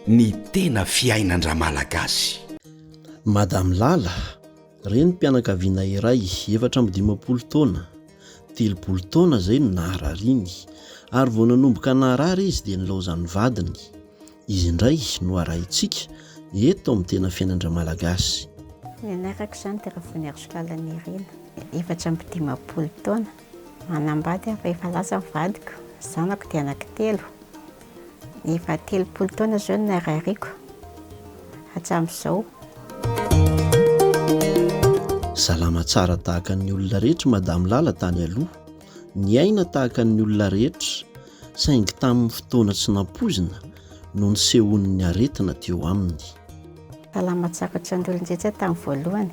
Ny tena fiainan-dRamalagasy. Madame Lala, renim-pianakaviana iray efatra amby dimampolo taona, telopolo taona izay no naharariany, ary vao nanomboka naharary izy dia nilaozan'ny vadiny. Izy indray no arahintsika eto amin'ny tena fiainan-dRamalagasy. Ny anarako izany dia Ravoanarisolalana Irina, efatra amby dimampolo taona, Manambady aho fa efa lasa ny vadiko, ny zanako dia anaky telo, efa telopolo taona izao no narariako hatramin'izao. Salama tsara tahaka ny olona rehetra i Madame Lala tany aloha, niaina tahaka ny olona rehetra saingy tamin'ny fotoana tsy nampoizina no nisehoan'ny aretina teo aminy. Salama tsara ohatran'ny olon-drehetra tamin'ny voalohany.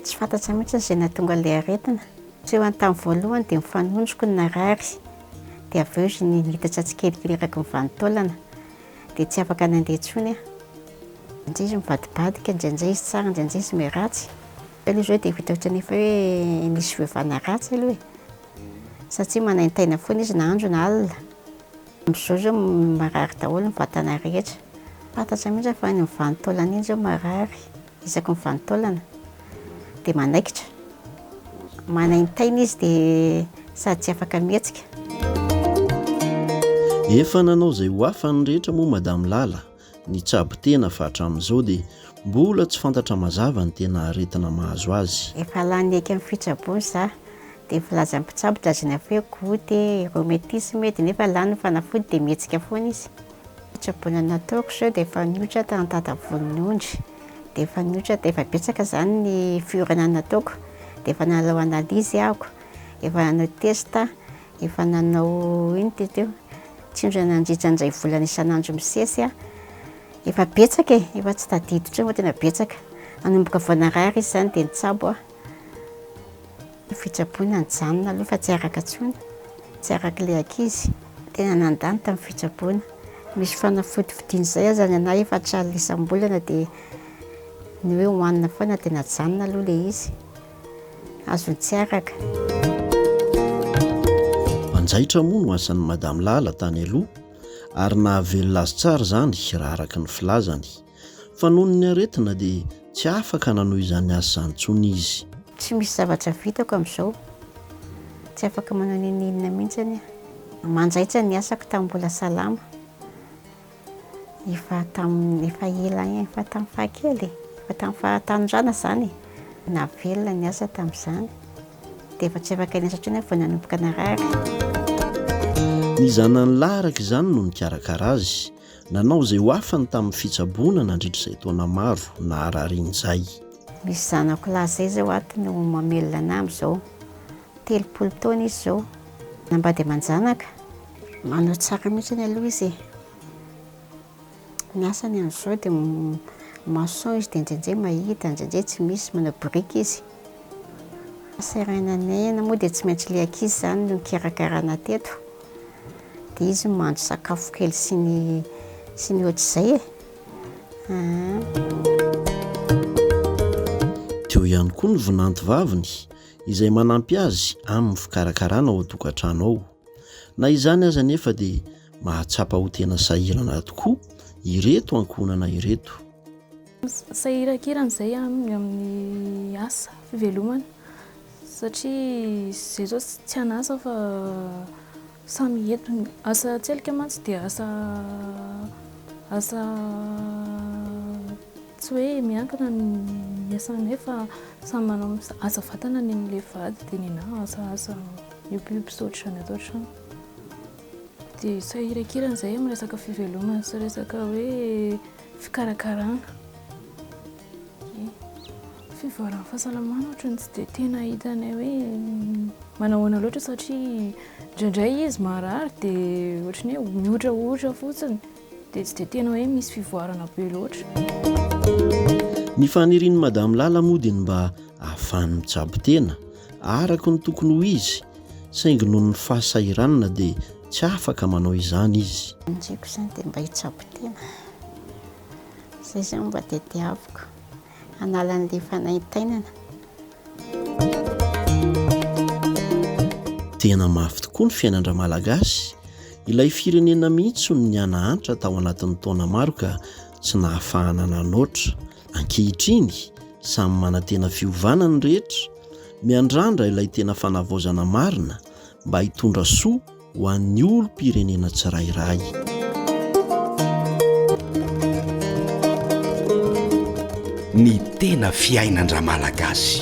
Tsy fantatro mihitsy izay nahatonga ilay aretina. Tsy ho any tamin'ny voalohany dia mifanonjiko ny narary, dia avy eo izy niitatra tsikelikely eraky ny vanin-taolana, dia tsy afaka nandeha intsony aho. Indraindray izy mivadibadika, indraindray izy tsara, indraindray izy miratsy. Aloha izao dia vita ohatran'ny efa hoe misy fiovana ratsy aloha e, satria manaintaina foana izy na andro na alina. Amin'izao izao marary daholo ny vatana rehetra. Tsy fantatra mihitsy fa iny vanin-taolana iny izao marary. Isaky ny vanintaolana dia manaikitra, manaintaina izy dia sady tsy afaka mihetsika. Efa nanao izay ho afany rehetra moa Madame Lala, nitsabo tena fa hatramin'izao dia mbola tsy fantatra mazava ny tena aretina mahazo azy. Efa lany eky amin'ny fitsaboana za, dia ny filazan'ny mpitsabo dia azon'ny afo hoe goute, rhumatisme, dia nefa lany ny fanafody dia mihetsika foana izy. Fitsaboana nataoko izao dia efa niotra tamin'ny dada voninondry, dia efa niotra, dia efa betsaka izany ny fiorana nataoko, dia efa nanao analyse aho, efa nanao test, efa nanao ino ty teo, tsindry nandritra ny iray volana isan'andro misesy aho, efa betsaka e, efa tsy tadidiko intsony fa tena betsaka, nanomboka vao narary izy izany dia nitsabo aho. Ny fitsaboana nijanona aloha fa tsy araka intsony, tsy araka ilay ankizy. Tena nandà ny tamin'ny fitsaboana. Misy fanafody vidiana izay aza ny anay efa tsy alina isam-bolana dia ny hoe hohanina foana dia najanona aloha ilay izy. Azony tsy araka. Mpanjaitra moa no asan'i Madame Lala tany aloha ary nahavelona azy tsara izany raha araka ny filazany. Fa noho ny aretina dia tsy afaka nanohy izany asa izany intsony izy. Tsy misy zavatra vitako amin'izao. Tsy afaka manao na inona inona mihitsy aho. Manjaitra ny asako tamin'ny mbola salama. Efa tamin'ny efa ela ihany, efa tamin'ny fahakely e. Efa tamin'ny fahatanorana izany e. Navelona ny asa tamin'izany. Dia efa tsy afaka niasa intsony aho vao nanomboka narary. Ny zanany lahy araka izany no nikarakara azy. Nanao izay ho afany tamin'ny fitsaboana nandritra izay taona maro nahararian'izay. Misy zanako lahy izay izao ato no mamelona anà amin'izao. Telopolo taona izy izao. Nambady aman-janaka. Manao tsara mihitsy aloha izy e. Ny asany amin'izao dia maçon izy dia indraindray mahita, indraindray tsy misy, manao biriky izy. Seraina anay, na moa dia tsy maintsy ilay ankizy izany no nikarakarana teto. dia izy mandry sakafo kely sy ny sy ny ohatr'izay e. Dia eo ihany koa ny vinanto vaviny izay manampy azy amin'ny fikarakarana ao an-tokantrano ao. Na izany aza anefa dia mahatsapa ho tena sahirana tokoa ireto ankohonana ireto. Sahirankirana izay aminy amin'ny asa, fivelomana, satria izay izao tsy an'asa fa samy eto. Ny asa an-tselika mantsy dia asa asa tsy hoe miankina ny asanay fa samy manao asa vatana ny an'ilay vady dia ny anah asa asa miompiompy sy ohatr'izany ato an-trano. Dia sahirankirana izay amin'ny resaka fivelomana sy resaka hoe Fikarakarana e, fivoaran'ny fahasalamana ohatran'ny tsy dia tena hitanay hoe manao ahoana loatra satria indraindray izy marary dia ohatran'ny hoe mihotrahotra fotsiny dia tsy dia tena hoe misy fivoarana be loatra. Ny fanirian'i Madame Lala moa dia ny mba hahafahany mitsabo tena araka ny tokony ho izy saingy noho ny fahasahiranana dia Tsy afaka manao izany izy. Ny tiako izany dia mba hitsabo tena. Izay izao no mba tadiaviko. Hanala an'ilay fanaintainana. Tena mafy tokoa ny fiainan-dRamalagasy. Ilay firenena mihitsy no nianahantra tao anatin'ny taona maro ka tsy nahafahana nanoatra. Ankehitriny, samy manantena fiovana ny rehetra. Miandrandra ilay tena fanavaozana marina. mba hitondra soa ho an'ny olom-pirenena tsirairay. ny tena fiainan-dramalagasy.